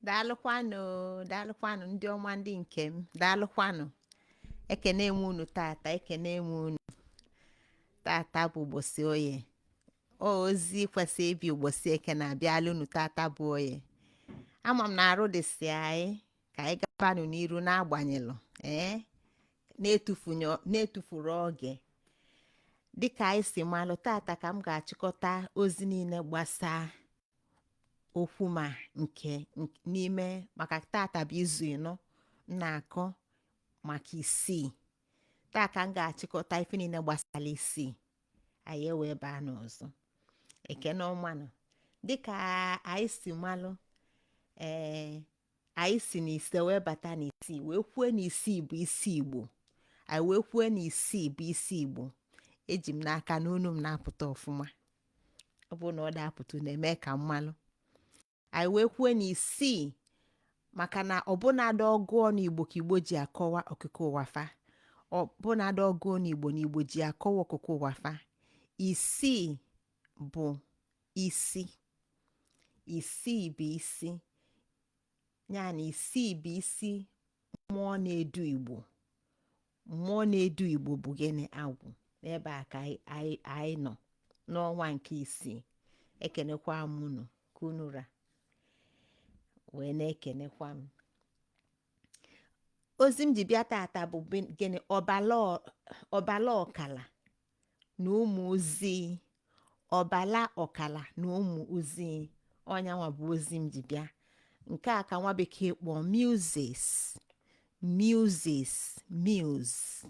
daalụkwanụ daalụkwanụ ndị ọma ndị nke m daalụkwanụ ekene m unu tata ekene m unu tata bụ ụbọchị oye ọ ozi kwesị ịbịa ụbọchị eke na-abịala unu tata bụ oye ama m na arụ dịsị anyị ka anyị gabanụ n'iru n'agbanyelụ ee na-etufunye- na-etufurọ oge dịka anyị si malụ tata ka m ga-achịkọta ozi niile gbasaa okwu ma nke nk- n'ime maka tata bụ izu ịnọ m na-akọ maka isii taa ka m ga-achịkọta ife niile gbasara isii anyị ewee baa n'ọzọ ekene ọmanụ dịka anyị si malụ ee anyị si n'ise wee bata n'isii wee kwue na isii bụ isi igbo anyị wee kwue na isii bụ isi igbo eji m n'aka na onu m na-apụta ọfụma ọ bụrụ na ọ da-apụta unu eme ka m malụ anyị wee kwue na isii maka na ọbụnadị ọgụ ọnụ igbo ka igbo ji akọwa okike ụwa fa ọbụnadị ọgụ ọnụ igbo na igbo ji akọwa okike ụwa fa isii bụ isi isii bụ isi ya na isii bụ isi mmụọ na-edu igbo mmụọ na-edu igbo bụ gịnị agwụ n'ebe a ka anyị- anyị anyị nọ n'ọnwa nke isii ekenekwa m unu ka unu ra wee na-ekenekwa m ozi m ji bịa tata bụ bin- gịnị ọbala ọ- ọbala ọkala na ụmụ ozi ọbala ọkala na ụmụ ozi ọ yanwa bụ ozi m ji bịa nke a ka nwa bekee kpọọ muses muses muse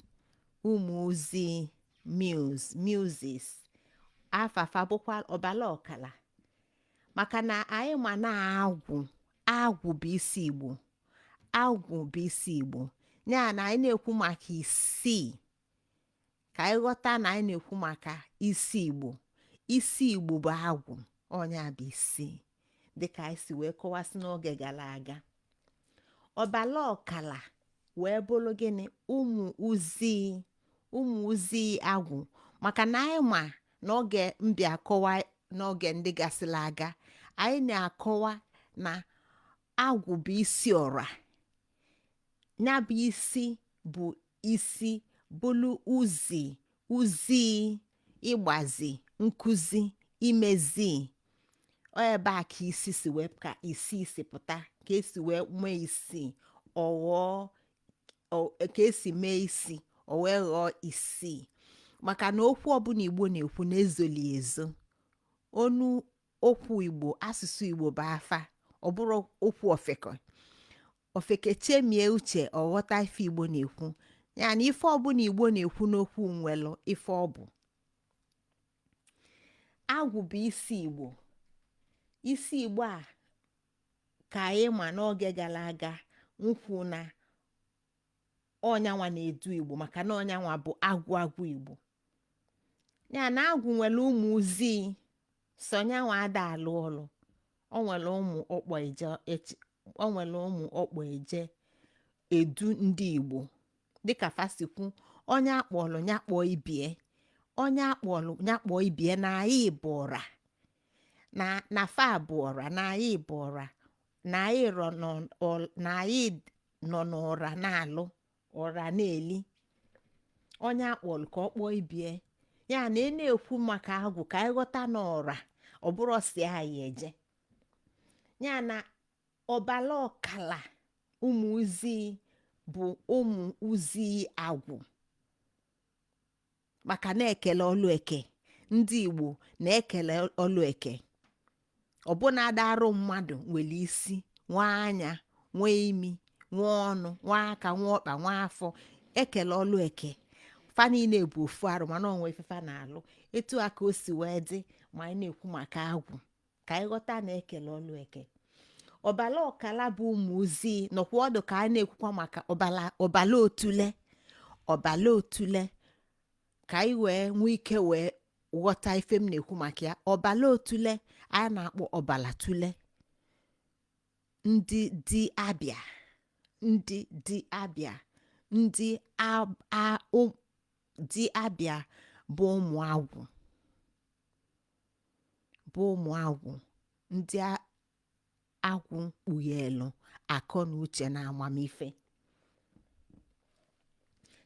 ụmụ ozi muse muses afa fa bụkwa ọbala ọkala maka na anyị ma na agwụ agwụ bụ isi igbo agwụ bụ isi igbo ya na anyị na-ekwu maka isii ka anyị ghọta na anyị na-ekwu maka isi igbo isi igbo bụ agwụ ọ ya bụ isi dịka anyị si wee kọwasị n'oge gara aga ọbala ọkala wee bụrụ gịnị ụmụ uzi ụmụ uzi agwụ maka na anyị ma n'oge m bịa akọwa n'oge ndị gasịrị aga anyị na-akọwa na agwụ bụ isi ọra ya bụ isi bụ isi bụlụ ozi ozi ịgbazi nkụzi imezi ọ ebe a ka isi si wee ka isi si pụta ka esi wee nwee isi ọ ghọọ ọ- ka esi mee isi ọ wee ghọọ isii maka na okwu ọbụla igbo na-ekwu na-ezoli ezo onu okwu igbo asụsụ igbo bụ afa ọ bụrọ okwu ofeke ofeke chemie uche ọ ghọta ife igbo na-ekwu ya na ife ọbụla igbo na-ekwu n'okwu nwelụ ife ọ bụ agwụ bụ isi igbo isi igbo a ka anyị ma n'oge gala aga m kwu na ọ nyanwa na-edu igbo maka na ọ nyanwa bụ agwụ agwụ igbo ya na agwụ nwere ụmụ ozi sọ nyanwa ada alụ ọlụ o nwere ụmụ ọ kpọ eje ech- o nwere ụmụ ọ kpọ eje edu ndị igbo dịka fa si kwu onye akpọlụ ya kpọọ ibie onye akpọlụ ya kpọọ ibie na anyị bụ ọra na na fa bụ ọra na anyị bụ ọra na anyị rọ n'ọ- ọ- na anyị nọ n'ọra na-alụ ọra na-eli onye akpọlụ ka ọ kpọọ ibie ya na ị na-ekwu maka agwụ ka anyị ghọta na ọra ọ bụrọ sọ nya eje ya na ọbala ọkala ụmụ ozi bụ ụmụ ozi agwụ maka na ekele ọlụ eke ndị igbo na-ekele ọlụ eke ọbụnadị arụ mmadụ nwere isi nwee anya nwee imi nwee ọnụ nwee aka nwee ọkpa nwee afọ ekele ọlụ eke fa niile bụ ofu arụ mana o nwe ife fa na-alụ etu a ka o si wee dị ma anyị na-ekwu maka agwụ ka anyị ghọta na ekele ọlụ eke ọbala ọkala bụ ụmụ ozi nọkwa ọdụ ka a na-ekwukwa maka ọbala ọbala otule ọbala otule ka anyị wee nwee ike wee ghọta ife m na-ekwu maka ya ọbala otule a na-akpọ ọbala tule ndị di abịa ndị di abịa ndị ab- a- ụ- di abịa bụ ụmụ agwụ bụ ụmụ agwụ ndị a- agwụ kpughelụ akọ na uche na amamife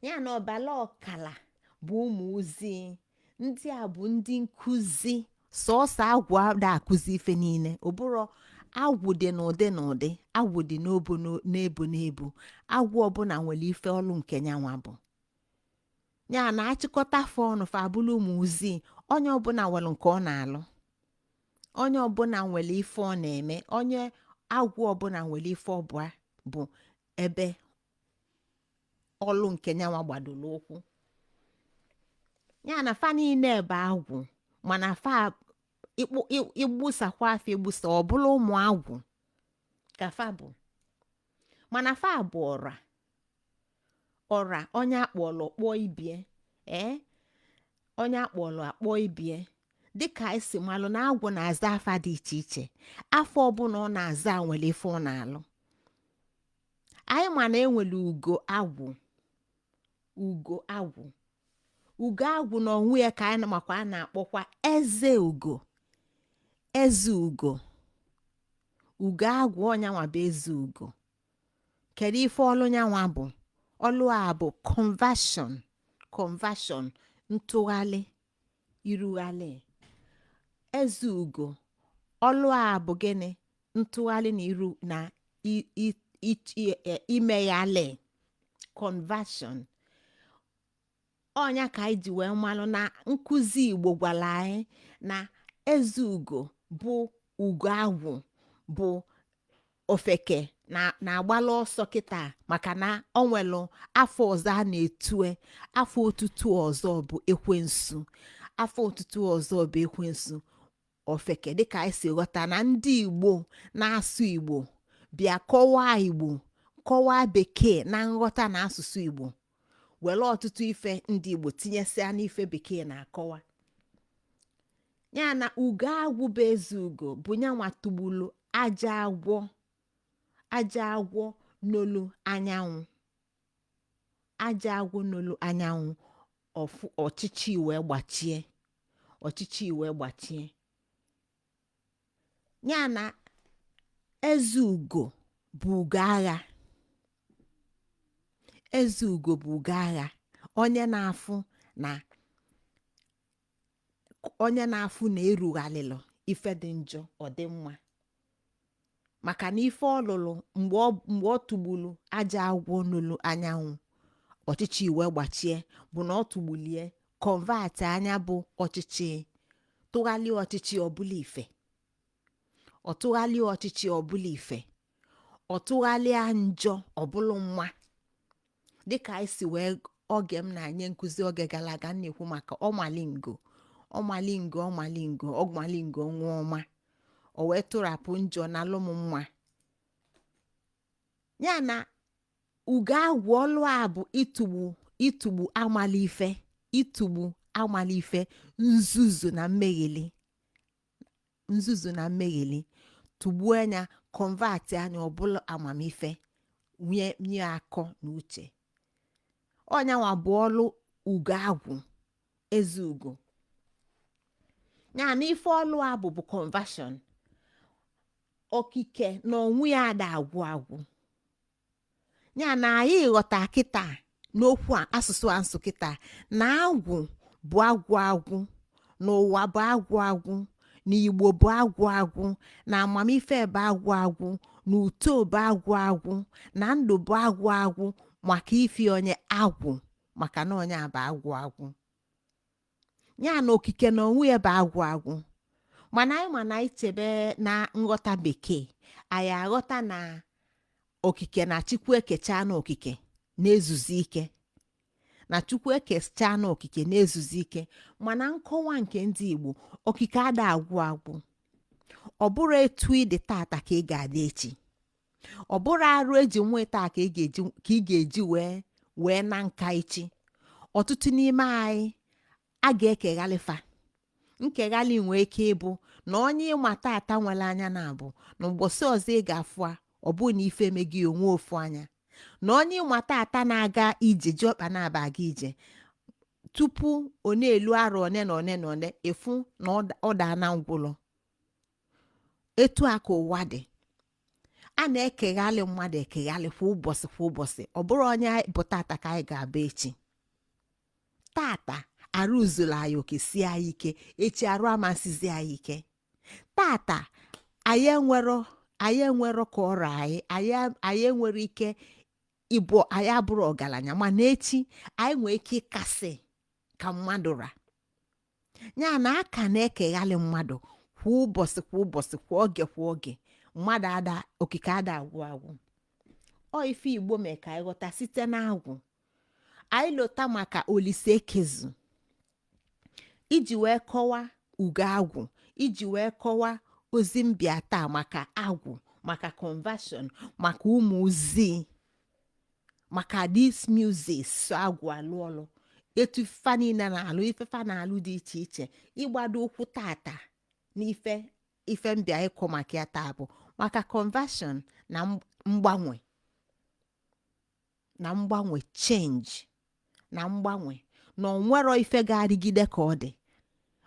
ya na ọbala ọkala bụ ụmụ ozi ndị a bụ ndị nkụzi sọọsọ agwụ ada akụzi ife niile ọ bụrụ agwụ dị n'ụdị n'ụdị agwụ dị n'obo n'o- n'ebo n'ebo agwụ ọbụla nwere ife ọlụ nke nyanwa bụ ya na achịkọta fa ọnụ fa abụrụ ụmụ ozi onye ọbụla nwere nke ọ na-alụ onye ọbụla nwere ife ọ na-eme onye agwụ ọbụla nwere ife ọbụla bụ ebe ọlụ nke nyanwa gbadoro ụkwụ ya na fa niile bụ agwụ mana fa ịkpụ- ị- ịgbusakwa fa egbusa ọ bụlụ ụmụ agwụ ka fa bụ mana fa bụ ọra ọra onye akpọlụ kpọọ ibie ee onye akpọlụ kpọọ ibie dịka anyị si malụ na agwụ na-aza afa dị iche iche afa ọbụla ọ na-aza nwere ife ọ na-alụ anyị ma na enwere ugo agwụ ugo agwụ ugo agwụ na onwe ya ka anyị makwa a na-akpọkwa eze ugo eze ugo ugo agwụ ọ nyanwa bụ eze ugo kedu ife ọlụ nyanwa bụ ọlụ a bụ conversion conversion ntụgharị irugharị eze ugo ọlụ a bụ gịnị ntụgharị na iru na i- i- i- i- e- imeghalị conversion ọ nya ka anyị ji wee malụ na nkụzi igbo gwara anyị na eze ugo bụ ugo agwụ bụ ofeke na-agbala ọsọ kịta maka na ọ nwelụ afa ọzọ a na-etue afa otutu ọzọ bụ ekwensu afa otutu ọzọ bụ ekwensu ofeke dịka anyị si ghọta na ndị igbo na-asụ igbo bịa kọwaa igbo kọwaa bekee na nghọta na asụsụ igbo were ọtụtụ ife ndị igbo tinyesịa n'ife bekee na-akọwa ya na ugo agwụ bụ eze ugo bụ nyanwa tụgbulu ajọ agwọ ajọ agwọ n'olu anyanwụ ajọ agwọ n'olu anyanwụ ọfụ ọchịchị wee gbachie ọchịchị wee gbachie ya na eze ugo bụ ugo agha eze ugo bụ ugo agha onye na-afụ na onye na-afụ na erughalịlụ ife dị njọ ọ dị mma maka na ife ọ lụlụ mgbe ọ mgbe ọ tụgbulu ajọ agwọ n'olu anyanwụ ọchịchị wee gbachie bụ na ọ tụgbulie convertịa nya bụ ọchịchị tụgharịa ọchịchị ọ bụlụ ife ọ tụgharịa ọchịchị ọ bụlụ ife ọ tụgharịa njọ ọ bụlụ mma dịka anyị si wee oge m na-enye nkụzi oge gara aga m na-ekwu maka ọmalingo ọmalingo ọmalingo ọmalingo nwa ọma o wee tụrapụ njọ na-alụ mma ya na ugo agwụ ọlụ a bụ ịtụgbu ịtụgbu amala ife ịtụgbu amala ife nzuzu na mmegheli nzuzu na mmegheli tụgbuo nya convert nya ọ bụlụ amamife nye nye akọ na uche ọ nya nwa bụ ọlụ ugo agwụ eze ugo ya na ife ọlụ a bụ bụ conversion okike na onwe ya ada agwụ agwụ ya na anyị ghọta kịta n'okwu a asụsụ a m sụ kịta na agwụ bụ agwụ agwụ na ụwa bụ agwụ agwụ na igbo bụ agwụ agwụ na amamife bụ agwụ agwụ na uto bụ agwụ agwụ na ndụ bụ agwụ agwụ maka ifi onye agwụ maka na onye a bụ agwụ agwụ ya na okike na onwe ya bụ agwụ agwụ mana anyị ma na anyị chebe na nghọta bekee anyị aghọta na okike na chukwu ekechana okike na-ezuzi ike na chukwu ekechana okike na-ezuzi ike mana nkọwa nke ndị igbo okike ada agwụ agwụ ọ bụrọ etu ị dị tata ka ị ga-adị echi ọ bụrọ arụ e ji nwata ka ị ga-eji ka ị ga-eji wee wee na nka echi ọtụtụ n'ime anyị a ga-ekeghalị fa nkeghalị nwee ike ịbụ na onye ị ma tata nwere anya naabọ na ụbọchị ọzọ ị ga-afụ a ọ bụrụ na ife emego ya o nwee ofu anya na onye ị ma tata na-aga ije ji ọkpa naabọ aga ije tupu ọ na-elu arọ one na one na one ị fụ na ọ da- ọ daana ngwụlọ etu a ka ụwa dị a na-ekeghalị mmadụ ekeghalị kwa ụbọchị kwa ụbọchị ọ bụrọ onye anyị bụ tata ka anyị ga-abụ echi tata arụ zuru anyị oke sie anyị ike echi arụ ama esizi anyị ike tata anyị enwero anyị enwero ka ọ ra anyị anyị anyị nwere ike ịbụ anyị abụrọ ọgaranya mana echi anyị nwee ike ịkasị ka mmadụ ra ya na a ka na-ekeghalị mmadụ kwa ụbọchị kwa ụbọchị kwa oge kwa oge mmadụ ada okike ada agwụ agwụ ọ ife igbo mee ka anyị ghọta site n'agwụ anyị lota maka olise ekezu iji wee kọwa ugo agwụ iji wee kọwa ozi m bịa taa maka agwụ maka conversion maka ụmụ ozi maka these muses so agwụ alụ ọlụ etu fa niile na-alụ ife fa na-alụ dị iche iche ịgbado ụkwụ tata n'ife ife m bịa ịkọ maka ya taa bụ maka conversion na mgbanwe na mgbanwe change na mgbanwe na ọ nwerọ ife ga-adịgide ka ọ dị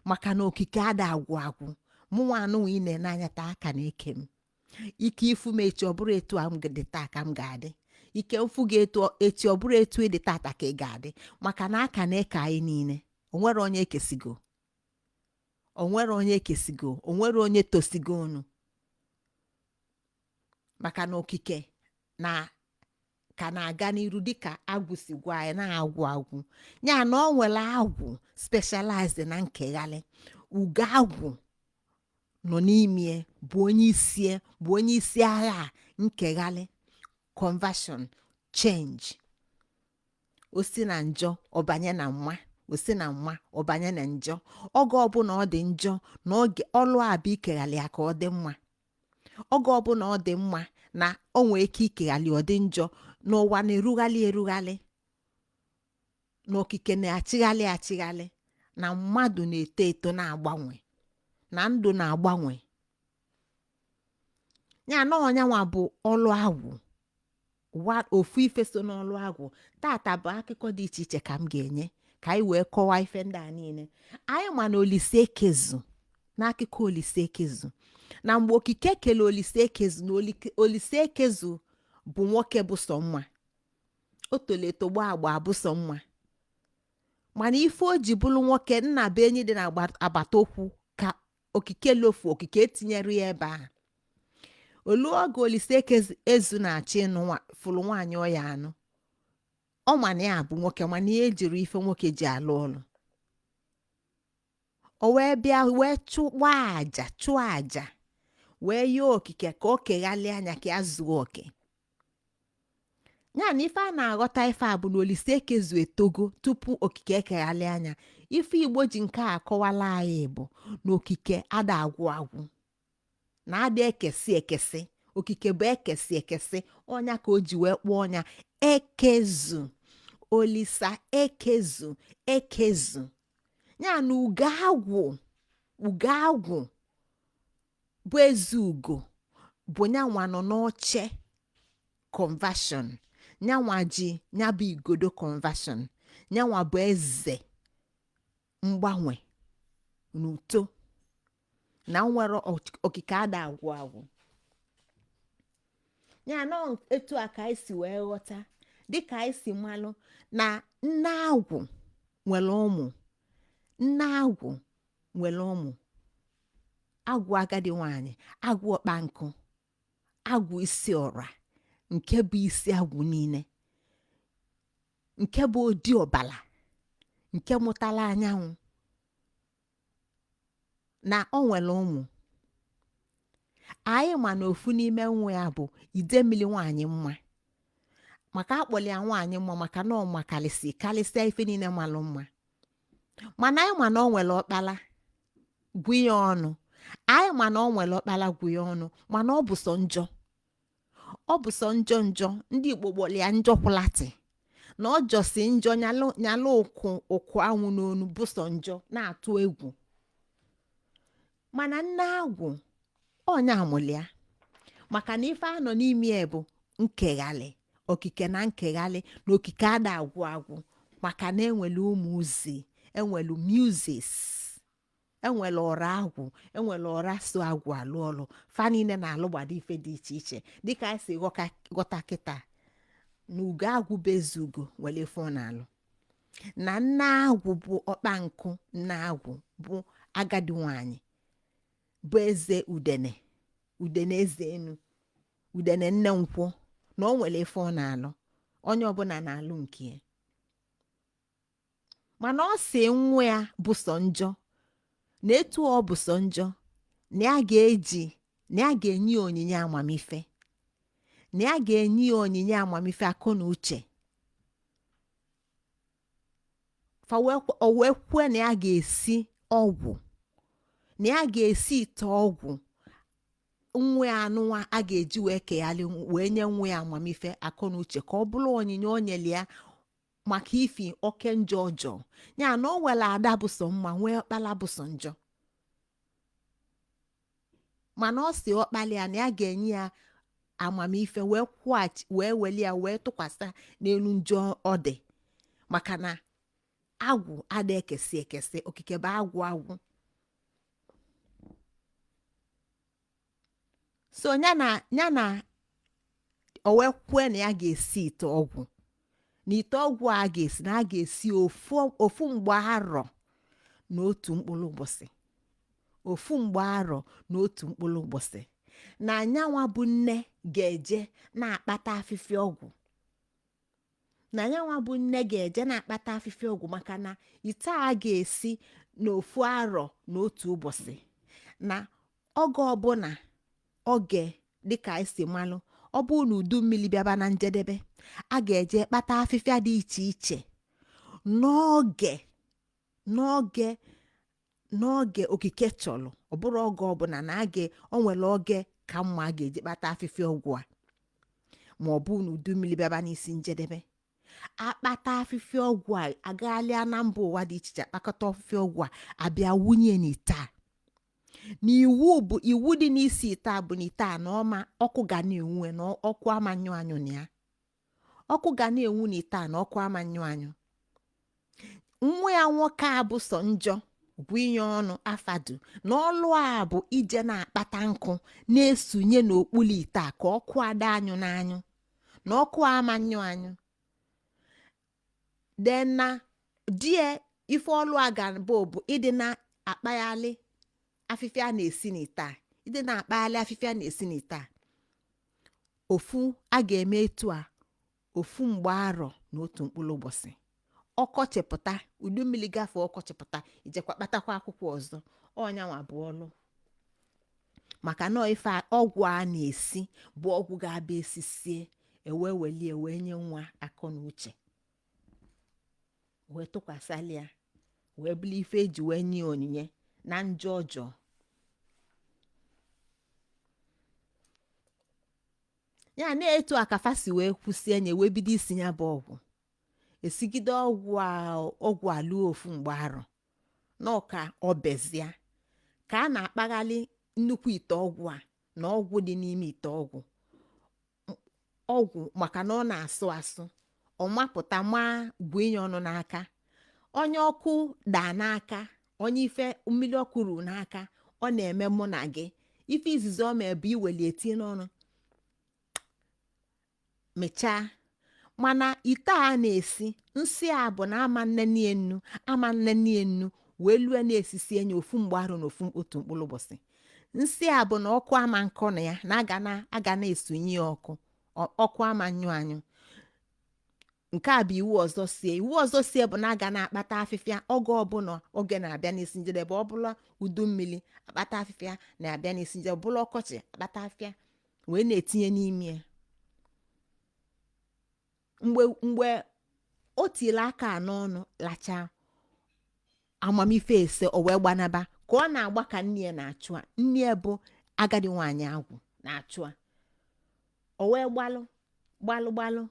maka na okike ada agwụ agwụ mụnwa nụnwa ị na-ene anya taa a ka na-eke m ike ị fụ m echi ọ bụrọ etu a m dị taa ka m ga-adị ike m fụ gị echi ọ bụrọ etu ị dị tata ka ị ga-adị maka na a ka na-eke anyị niile o nwerọ onye e kesigo o nwerọ onye e kesigo o nwerọ onye tosigo unu maka na okike na ka na-aga n'iru dịka agwụ si gwa anyị na agwụ agwụ ya na ọ nwere agwụ specialized na nkeghalị ugo agwụ nọ n'ime bụ onye isi bụ onye isi agha nkeghalị conversion change o si na njọ ọ banye na mma o si na mma ọ banye na njọ oge ọbụla ọ dị njọ na ọlụ ya bụ ikeghalị ya ka ọ dị mma oge ọbụla ọ dị mma na o nwee ike ikeghalị ọ dị njọ na ụwa na-erughalị erughalị na okike na-achịghalị achịghalị na mmadụ na-eto eto na-agbanwe na ndụ na-agbanwe ya na ọ nyanwa bụ ọlụ agwụ ofu ife so n'ọlụ agwụ tata bụ akụkọ dị iche iche ka m ga-enye ka anyị wee kọwaa ife ndị a niile anyị ma na olise ekezu n'akụkọ olise ekezu na mgbe okike kele olise ekezu na olike- olise ekezu bụ nwoke bụ sọ mma o tolo eto gbaa agba bụ sọ mma mana ife o ji bụlụ nwoke nna be anyị dị n'agbata ụkwụ ka okike lofu okike etinyerọ ya ebe ahụ o luo oge olise ekezu na-achọ ịnụ nwa- fụlụ nwaanyị ọ ya-anụ ọ ma na ya bụ nwoke mana ya ejirọ ife nwoke ji alụ ọlụ o wee bịa wee chụwa aja chụọ aja wee yọọ okike ka o keghalịa nya ka ya zuo oke ya na ife a na-aghọta ife a bụ na olise ekezu etogo tupu okike ekeghalịa nya ife igbo ji nke a akọwalụ anyị bụ na okike ada agwụ agwụ na ada ekesi ekesi okike bụ ekesi ekesi ọ nya ka o ji wee kpọọ nya ekezu olisa ekezu ekezu ya na ugo agwụ ugo agwụ bụ eze ugo bụ nyanwa nọ n'oche conversion nyanwa ji nyabụ igodo conversion nyanwa bụ eze mgbanwe n'uto na nwere okike ada agwụ agwụ ya na etu a ka anyị si wee ghọta dịka anyị si malụ na nne agwụ nwere ụmụ nne agwụ nwere ụmụ agwụ agadi nwanyị agwụ ọkpa nkụ agwụ isi ọra nke bụ isi agwụ niile nke bụ odi ọbala nke mụtala anyanwụ na o nwere ụmụ anyị ma na ofu n'ime nwa ya bụ idemmili nwaanyị mma maka akpọli ya nwaanyị mma maka na ọ makalịsị kalịsịa ife niile malụ mma mana anyị ma na o nwere ọkpala gwu ya ọnụ anyị ma na o nwere ọkpala gwu ya ọnụ mana ọ bụ sọ njọ ọ bụ sọ njọ njọ ndị igbo kpọrọ ya njọ kwụlatị na ọ jọsi njọ nyalụ ụkwụ ụkwụ anwụ n'onu bụ sọ njọ na-atụ egwu mana nne agwụ onye amụlị ya maka na ife a nọ n'ime ya bụ nkeghalị okike na nkeghalị na okike ada agwụ agwụ maka na enwere muses enwere muses enwere ọra agwụ enwere ọra so agwụ alụ ọlụ fa niile na-alụgbado ife dị iche iche dịka anyị si ghọka- ghọta kịta na ugo agwụ bụ eze ugo nwere ife ọ na-alụ na nne agwụ bụ ọkpa nkụ nne agwụ bụ agadi nwanyị bụ eze udene udene eze enu udene nne nkwụ na o nwere ife ọ na-alụ onye ọbụla na-alụ nke ya mana ọ si nwa ya bụ sọ njọ na etu ọ bụ sọ njọ na ya ga-eji na ya ga-enye ya onyinye amamife na ya ga-enye ya onyinye amamife akọ na uche fa wee kwe- o wee kwue na ya ga-esi ọgwụ na ya ga-esi ite ọgwụ nwa ya anụnwa a ga-eji wee keghalị nw- wee nye nwa ya amamife akọ na uche ka ọ bụrụ onyinye o nyere ya maka ifi oke njọ ọ jọọ ya na o nwere ada bụ sọ mma nwee ọkpala bụ sọ njọ mana ọ si ọkpala ya na ya ga-enye ya amamife wee kwụghachi wee weli ya wee tụkwasị ya n'elu njọ ọ dị maka na agwụ ada ekesi ekesi okike bụ agwụ agwụ so ya na ya na o wee kwue na ya ga-esi ite ọgwụ na ite ọgwụ a ga-esi na a ga-esi ofu ofu mgba arọ na otu mkpụrụ ụbọchị ofu mgba arọ na otu mkpụrụ ụbọchị na yanwa bụ nne ga-eje na-akpata afịfịa ọgwụ na yanwa bụ nne ga-eje na-akpata afịfịa ọgwụ maka na ite a ga-esi n'ofu arọ na otu ụbọchị na oge ọbụla oge dịka e si malụ ọ bụ na udu mmiri bịaba na njedebe a ga-eje kpata afịfịa dị iche iche n'oge n'oge n'oge okike chọrọ ọ bụrọ oge ọbụla na a ga o nwere oge ka mma a ga-eji kpata afịfịa ọgwụ a ma ọ bụ na udu mmiri bịaba n'isi njedebe akpata afịfịa ọgwụ a agaghalịa na mba ụwa dị iche iche akpakọta afịfịa ọgwụ a abịa wunye n'ite a na iwu bụ iwu dị n'isi ite a bụ na ite a na ọ ma ọkụ ga na-enwu enwu na ọkụ ama nyụ anyụ na ya ọkụ ga na-enwu n'ite a na ọkụ ama nyụ anyụ nwa ya nwoke a bụ sọ njọ Gwion Afadu na ọlụ a bụ ije na-akpata nkụ na-esunye n'okpuru ite a ka ọkụ ada anyụ n'anyụ na ọkụ ama nyụ anyụ then na di e ife ọlụ a ga-abụ bụ ịdị na-akpaghalị afịfịa a na-esi n'ite a ịdị na-akpaghalị afịfịa a na-esi n'ite a ofu a ga-eme etu a ofu mgba arọ na otu mkpụrụ ụbọchị ọkọchị pụta udu mmiri gafee ọkọchị pụta ijekwa kpatakwa akwụkwọ ọzọ ọ yanwa bụ ọlụ maka na ife a- ọgwụ a na-esi bụ ọgwụ ga-abịa esisie ewee welie wee nye nwa akọ na uche wee tụkwasịla ya wee bụrụ ife eji wee nye ya onyinye na njọ ọ jọrọ ya na etu a ka fa si wee kwụsie nye wee bido isi ya bụ ọgwụ esigide ọgwụ a luo ofu mgba arọ na ọ ka ọ bezia ka a na-akpaghalị nnukwu ite ọgwụ a na ọgwụ dị n'ime ite ọgwụ ọgwụ maka na ọ na-asụ asụ ọ mapụta maa Gwion n'aka onye ọkụ daa n'aka onye ife mmiri ọkụ ruru n'aka ọ na-eme mụ na gị ife izizi o mee bụ iweli e tinye n'ọnụ mechaa mana ite a na-esi nsọ ya bụ na ama nneni enu ama nneni enu wee lue na esisie nye ofu mgba arọ na ofu otu mkpụrụ ụbọchị nsọ ya bụ na ọkụ ama nkọ na ya na a ga na a ga na-esunye ya ọkụ ọ- ọkụ ama nyụ anyụ nke a bụ iwu ọzọ sie iwu ọzọ sie bụ na a ga na-akpata afịfịa oge ọbụla oge na-abịa n'isi njedebe ọ bụla udu mmiri akpata afịfịa na-abịa n'isi njedebe ọ bụla ọkọchị akpata afịfịa wee na-etinye n'ime ya mgbe mgbe o tiri aka a n'ọnụ lachaa amamife e si o wee gbanaba ka ọ na-agba ka nne ya na-achụ a nne ya bụ agadi nwaanyị agwụ na-achụ a o wee gbalụ gbalụ gbalụ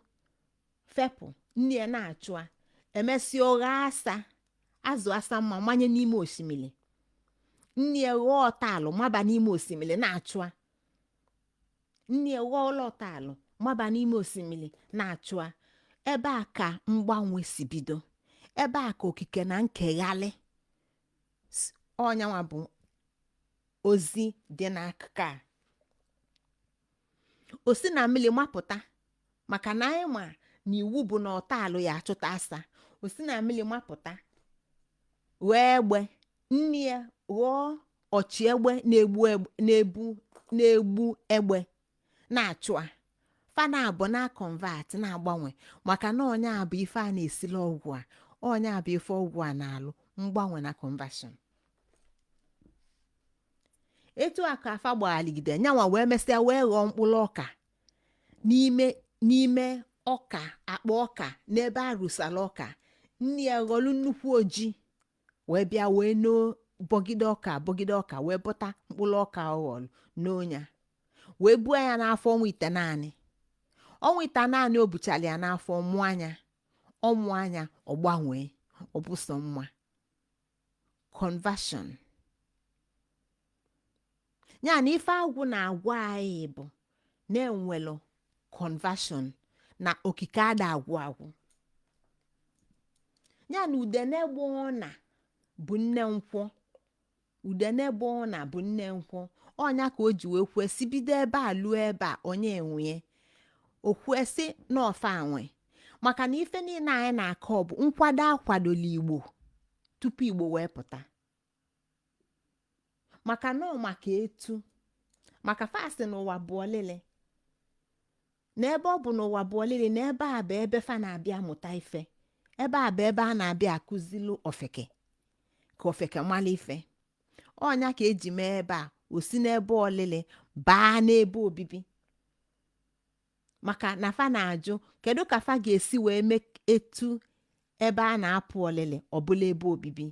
fepụ nne ya na-achụ a e mesịa ọ ghọọ asa azụ asa mabanye n'ime osimiri nne ya ghọọ ọtaalụ maba n'ime osimiri na-achụ a nne ya ghọlụ ọtaalụ maba n'ime osimiri na-achụ a ebe a ka mgbanwe si bido ebe a ka okike na nkeghalị ọ nyanwa bụ ozi dị n'akụkọ a o si na mmiri mapụta maka na anyị ma na iwu bụ na ọtaalụ ya achụta asa o si na mmiri mapụta ghọọ egbe nne ya ghọọ ọchị egbe na-egbu egbe- na-ebu na-egbu egbe na-achụ a fa naabọ na-convert na-agbanwe maka na ọ nya bụ ife a na-esili ọgwụ a ọ nya bụ ife ọgwụ a na-alụ mgbanwe na conversion etu a ka fa gbaghalịgide nyanwa wee mesịa wee ghọọ mkpụrụ ọka n'ime n'ime ọka akpa ọka n'ebe a rụsara ọka nne ya ghọlụ nnekwu oji wee bịa wee noo bọgide ọka bọgide ọka wee bọta mkpụrụ ọka ọ ghọlụ noo nya wee buo ya n'afọ ọnwa itenaanị ọnwa itenaanị o buchara ya n'afọ mụọ nya ọ mụọ nya ọ gbanwee ọ bụ sọ mma conversion ya na ife agwụ na-agwa anyị bụ na e nwelụ conversion na okike ada agwụ agwụ ya na udene gba ọna bụ nne nkwọ udene gba ọna bụ nne nkwọ ọ nya ka o ji wee kwuo sị bido ebe a luo ebe a onye nwe o kwue sị na ọ fa nwe maka na ife niile anyị na-akọ bụ nkwado a kwadolụ igbo tupu igbo wee pụta maka na ọ maka etu maka fa sị na ụwa bụ ọlịlị na ebe ọ bụ na ụwa bụ ọlịlị na ebe a bụ ebe fa na-abịa mụta ife ebe a bụ ebe a na-abịa akụzilu ofeke ka ofeke mala ife ọ nya ka e ji mee ebe a o si n'ebe ọlịlị baa n'ebe obibi maka na fa na-ajụ kedu ka fa ga-esi wee mee etu ebe a na-apụ ọlịlị ọ bụlụ ebe obibi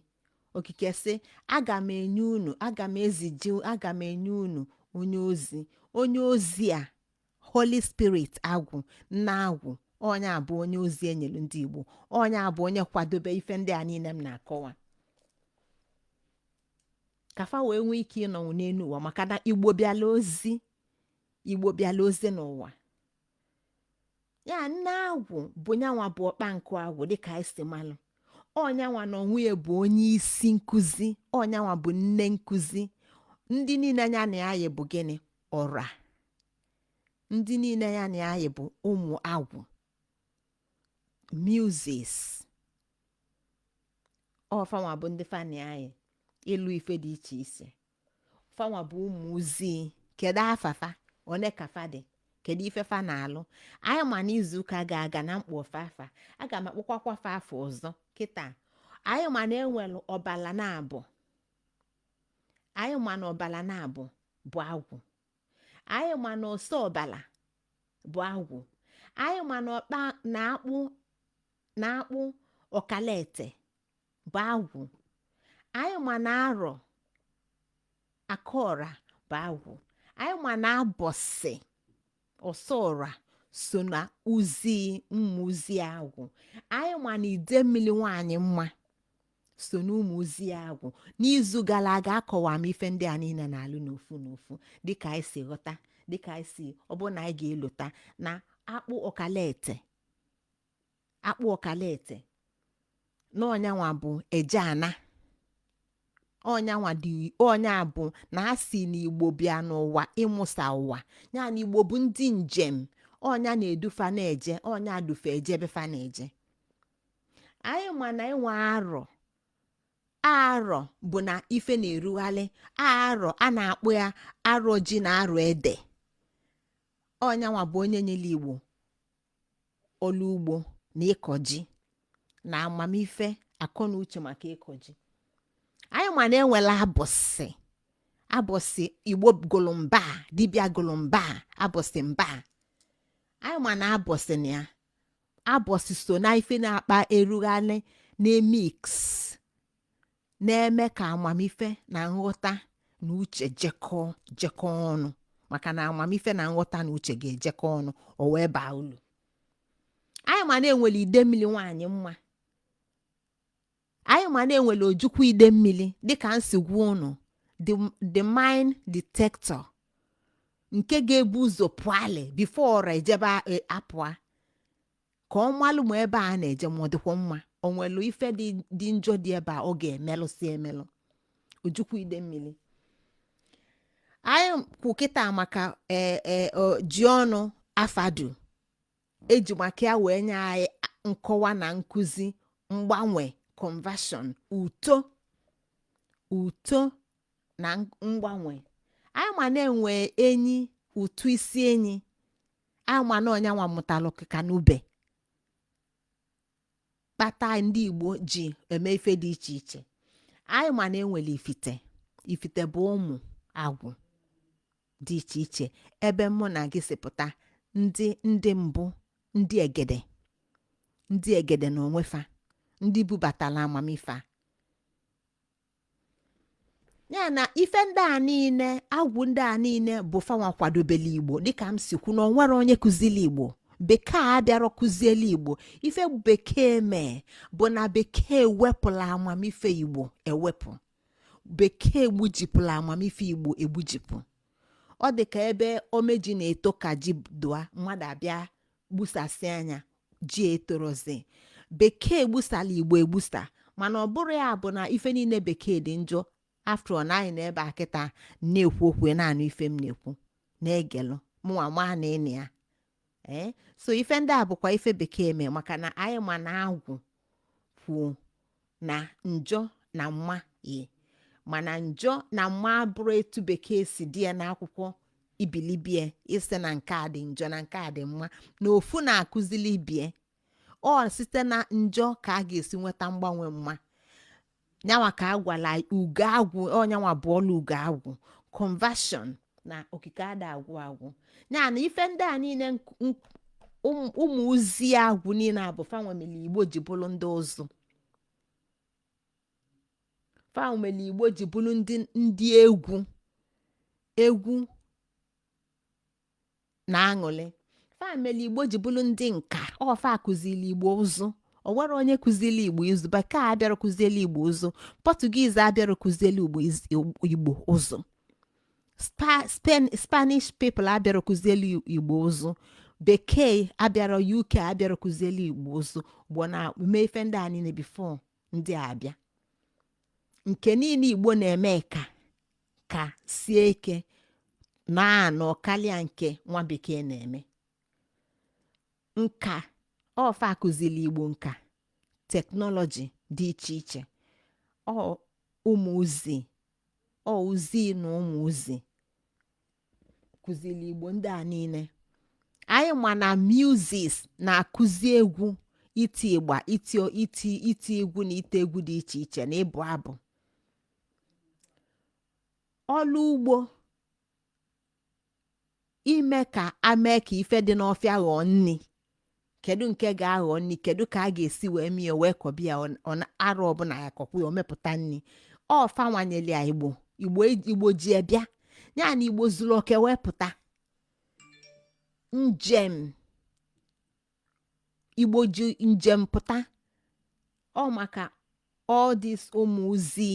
okike sị aga m enye unu aga m eziji aga m enye unu onye ozi onye ozi a holy spirit agwụ nne agwụ onye a bụ onye ozi enyelu ndị igbo onye a bụ onye kwadobe ife ndị a niile m na-akọwa ka fa wee nwee ike ịnọnwu n'elu ụwa maka na igbo bịala ozi igbo bịala ozi n'ụwa ya nne agwụ bụ nyanwa bụ ọkpa nkụ agwụ dịka anyị si malụ ọ nyanwa na onwe ya bụ onye isi nkụzi ọ nyanwa bụ nne nkụzi ndị niile ya na ya yi bụ gịnị ọra ndị niile ya na ya yi bụ ụmụ agwụ muses ọ fanwa bụ ndị fa na-enye ịlụ ife dị iche iche fanwa bụ ụmụ ozi kedu afa fa one ka fa dị kedu ife fa na-alụ anyị ma n'izu ụka gala aga na m kpọ afa fa aga m akpọkwakwa afa fa ọzọ kịta anyị ma na enwelu ọbala naabọ anyị ma na ọbala naabọ bụ agwụ anyị ma na ose ọbala bụ agwụ anyị ma na ọkpa na akpụ na akpụ ọkala ete bụ agwụ anyị ma na arọ aka ọra bụ agwụ anyị ma na abọsị ose ọra so na ozi ụmụ ozi agwụ anyị ma na idemmili nwaanyị mma so n'ụmụ ozi agwụ n'izu gala aga akọwa m ife ndị a niile na-alụ n'ofu n'ofu dịka anyị si ghọta dịka anyị si ọ bụrụ na anyị ga-elota na akpụ ọkala ete akpụ ọkala ete na ọ nyanwa bụ eje ana ọ nyanwa dị ọ nya bụ na a sị na igbo bịa n'ụwa ịmụsa ụwa ya na igbo bụ ndị njem ọ nya na-edu fa na-eje ọ nya du fa eje ebe fa na-eje anyị ma na enwe arọ arọ bụ na ife na-erughalị arọ a na-akpụ ya arọ ji na arọ ede ọ nyanwa bụ onye nyelu igbo ọlụ ugbo na ịkọ ji na amamife akọ na uche maka ịkọ ji anyị ma na enwelu abọsị abọsị igbo gụlụ mba, dibịa gụlụ mba, abọsị mba. anyị ma na abọsị na ya abọsị so na ife na-akpa erughalị na-emix na-eme ka amamife na nghọta na uche jekọọ jekọọ ọnụ maka na amamife na nghọta na uche ga-ejekọ ọnụ o wee baa ulu anyị ma na enwele ide mmili nwaanyị mma anyị ma na enwele ojukwu ide mmili dịka m si gwa ụnụ the, the mine detector nke ga-ebu ụzọ pụalị before ọra ejebe a- e- apụa ka ọ malụ ma ebe a na-eje ma ọ dịkwa mma o nwelụ ife dị dị njọ dị ebe a ọ ga-emelụsị emelụ ojukwu ide mmili anyị kwu kịta maka ee ee o- ji ọnụ afadu eji maka ya wee nye anyị nkọwa na nkụzi mgbanwe conversion uto uto na mgbanwe anyị ma na enwe enyi ụtụ isi enyi anyị ma na ọnyanwa mụtalụ ọkịka na ube kpata ndị igbo ji eme ife dị iche iche anyị ma na enwele ifite ifite bụ ụmụ agwụ dị iche iche ebe mụ na gị si pụta ndị ndị mbụ ndị egede ndị egede na onwefa ndị bubatala amamife a ya na ife ndị a niile agwụ ndị a niile bụ fanwa kwadobele igbo dịka m si kwu na o nwerọ onye kụzili igbo bekee abịarọ kụziele igbo ife bekee mee bụ na bekee wepụla amamife igbo ewepụ bekee gbujipụla amamife igbo egbujipụ ọ dị ka ebe ome ji na-eto ka ji dụa mmadụ abịa gbusasịa nya ji etorọzi bekee gbusala igbo egbusa mana ọ bụrọ ya bụ na ife niile bekee dị njọ after all anyị nọ ebe a kịta na-ekwu okwu ị na-anụ ife m na-ekwu na-egelụ mụnwa maa na ịnị ya ee so ife ndị a bụkwa ife bekee mee maka na anyị ma na agwụ kwuo na njọ na mma yi mana njọ na mma abụrọ etu bekee si dee ya n'akwụkwọ ibilibe isi na nke a dị njọ na nke a dị mma na ofu na-akụzili ibie ọ site na njọ ka a ga-esi nweta mgbanwe mma nyanwa ka a gwala ugo agwụ onyanwa bụ ọlụ ugo agwụ conversion na okike ada agwụ agwụ ya na ife ndị a niile nk- nk- ụm- ụmụ ozi agwụ niile a bụ fanwa meli igbo ji bụrụ ndị ụzụ fanwa meli igbo ji bụrụ ndị ndị egwu egwu na aṅụlị fa mere igbo ji bụrụ ndị nka ọ fa kụzili igbo ụzụ o nwere onye kụzili igbo ụzụ bekee abịara kụzieli igbo ụzụ portuguese abịara kụzieli igbo iz- igbo ụzụ Spa- Spen- spanish people abịara kụzieli igbo ụzụ bekee abịara uk abịara kụzieli igbo ụzụ igbo na-eme ife ndị a niile before ndị a bịa nke niile igbo na-eme ka ka sie ike na-anọ kalịa nke nwa bekee na-eme nka ọ fa kụzili igbo nka technology dị iche iche ọ ụmụ uzi ọ uzi na ụmụ uzi kụzili igbo ndị a niile anyị ma na muses na-akụzi egwu iti ịgba iti iti iti egwu na ite egwu dị iche iche na ịbụ abụ ọlụ ugbo ime ka a mee ka ife dị n'ọfịa ghọọ nni kedu nke ga-aghọ nni kedu ka a ga-esi wee mie wee kọba ya ọ- ọ na- arọ ọbụla ya kọkwa ya o mepụta nni ọ fa nwa nyeli ya igbo igbo e- igbo ji ya bịa ya na igbo zulu oke wee pụta njem igbo ji njem pụta ọ maka all this ụmụ uzi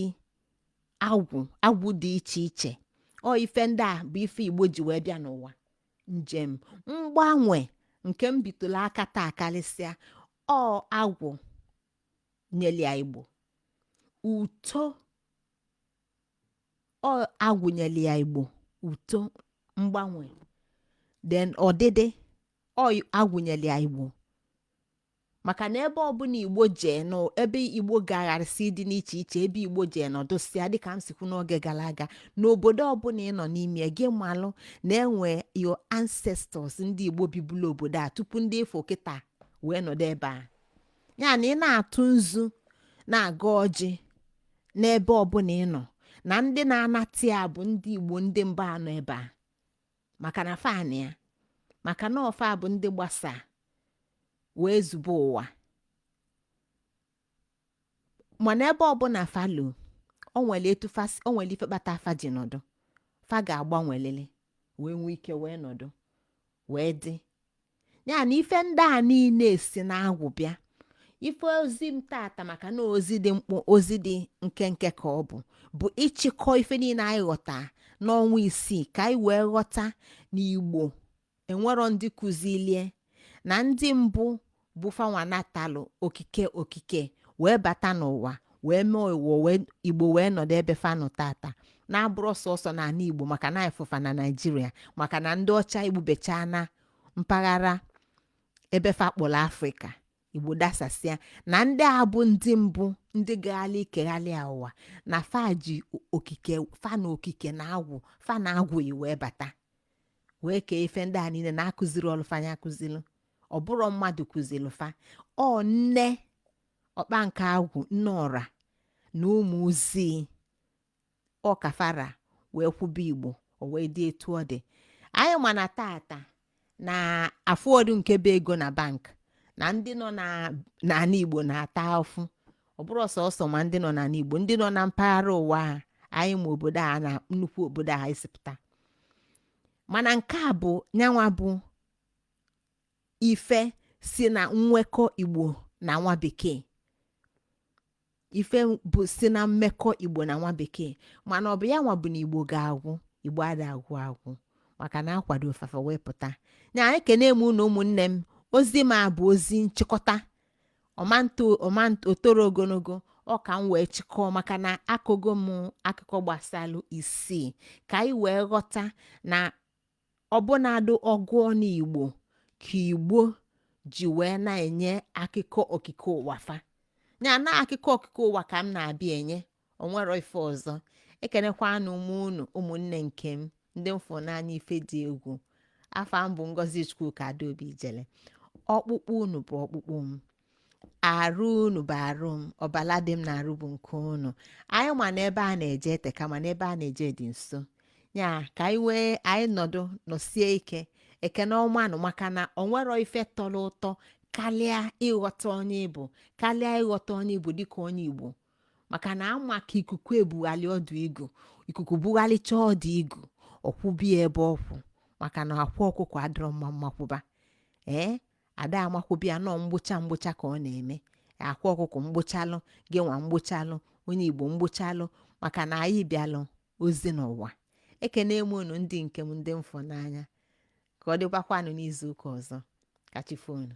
agwụ agwụ dị iche iche ọ ife ndị a bụ ife igbo ji wee bịa n'ụwa njem mgbanwe nke m bitụla aka taa kalịsịa ọ agwụ nyeli ya igbo uto ọ agwụ nyeli ya igbo uto mgbanwe then ọdịdị ọ agwụ nyeli ya igbo maka na ebe ọbụla igbo jee nọ ebe igbo gagharịsị dị n'iche iche ebe igbo jee nọdụsịa dịka m si kwuo n'oge gala aga n'obodo ọbụla ị nọ n'ime gị malụ na e nwe your ancestors ndị igbo bibulu obodo a tupu ndị ị fụ kịta wee nọdụ ebe a ya na ị na-atụ nzu na-agọ ọjị n'ebe ọbụla ị nọ na ndị na-anata ya bụ ndị igbo ndị mba nọ ebe a maka na fa nwa maka na ọ fa bụ ndị gbasa wee zube ụwa mana ebe ọbụla fa luo o nwere etu fas- o nwere ife kpata fa ji nọdụ fa ga-agbanwelili wee nwee ike wee nọdụ wee dị ya na ife ndị a niile si n'agwụ bịa ife ozi m tata maka na ozi dị mkpụ ozi dị nkenke ka ọ bụ bụ ịchịkọ ife niile anyị ghọta n'ọnwa isii ka anyị wee ghọta na igbo enwerọ ndị kụzilie na ndị mbụ bụ fa nwa natalụ okike okike wee bata n'ụwa wee mee ụwa wee igbo wee nọdụ ebe fa nọ tata na abụrọ sọsọ n'ala igbo maka na anyị fụ fa na naijiria maka na ndị ọcha egbubecha na mpaghara ebe fa kpọrọ afrịka igbo dasasịa na ndị a bụ ndị mbụ ndị gagharị kegharịa ụwa na fa ji o- okike fa na okike na agwụ fa na agwụ yi wee bata wee kee ife ndị a niile na akụzirọlụ fa nya akụziri ọ bụrọ mmadụ kụziri fa ọ nne ọkpa nke agwụ nne ọra na ụmụ ozi ọ kafara wee kwube igbo o wee dị etu ọ dị anyị ma na tata na afụrọdụ nke bụ ego na bank na ndị nọ na n'ala igbo na-ata afụ ọ bụrọ sọsọ ma ndị nọ n'ala igbo ndị nọ na mpaghara ụwa a anyị ma obodo a na nnukwu obodo a esi pụta mana nke a bụ nya nwa bụ ife si na nwekọ igbo na nwa bekee ife bụ si na mmekọ igbo na nwa bekee mana ọ bụ ya nwa bụ na igbo ga-agwụ igbo ada agwụ agwụ maka na a kwado fa fa wee pụta nya ekene m unu ụmụnne m ozi m a bụ ozi nchịkọta ọ ma na o toro ogologo ọ ka m wee chịkọọ maka na akọgo m akụkọ gbasalụ isii ka anyị wee ghọta na ọ bụnadụ ọgụ ọnụ igbo ka igbo ji wee na-enye akụkọ okike ụwa fa ya na akụkọ okike ụwa ka m na-abịa enye o nwerọ ife ọzọ ekenekwanụ m unu ụmụnne nke m ndị m fụ n'anya ife dị egwu afa m bụ ngozi chukwuka adaobi ijele ọkpụkpụ unu bụ ọkpụkpụ m arụ unu bụ arụ m ọbala dị m n'arụ bụ nke unu anyị ma na ebe a na-eje eteka ma na ebe a na-eje dị nso ya ka anyị wee anyị nọdụ nọsie ike ekene ọmanụ maka na o nwerọ ife tọrọ ụtọ karịa ịghọta onye ị bụ karịa ịghọta onye ị bụ dịka onye igbo maka na ama ka ikuku ebugharị ọdụ igu ikuku bugharịcha ọdụ igu ọ kwụbie ebe ọ kwụ maka na akwa ọkụkọ adịrọ mma mmakwụba ee ada amakwụba ya nọ mgbocha mgbocha ka ọ na-eme akwa ọkụkọ mgbochalụ gị nwa mgbochalụ onye igbo mgbochalụ maka na anyị bịalụ ozi n'ụwa ekene m unu ndị nke m ndị m fụ n'anya ka ọ dịkwakwanụ n'izu ụka ọzọ ka chi foo nụ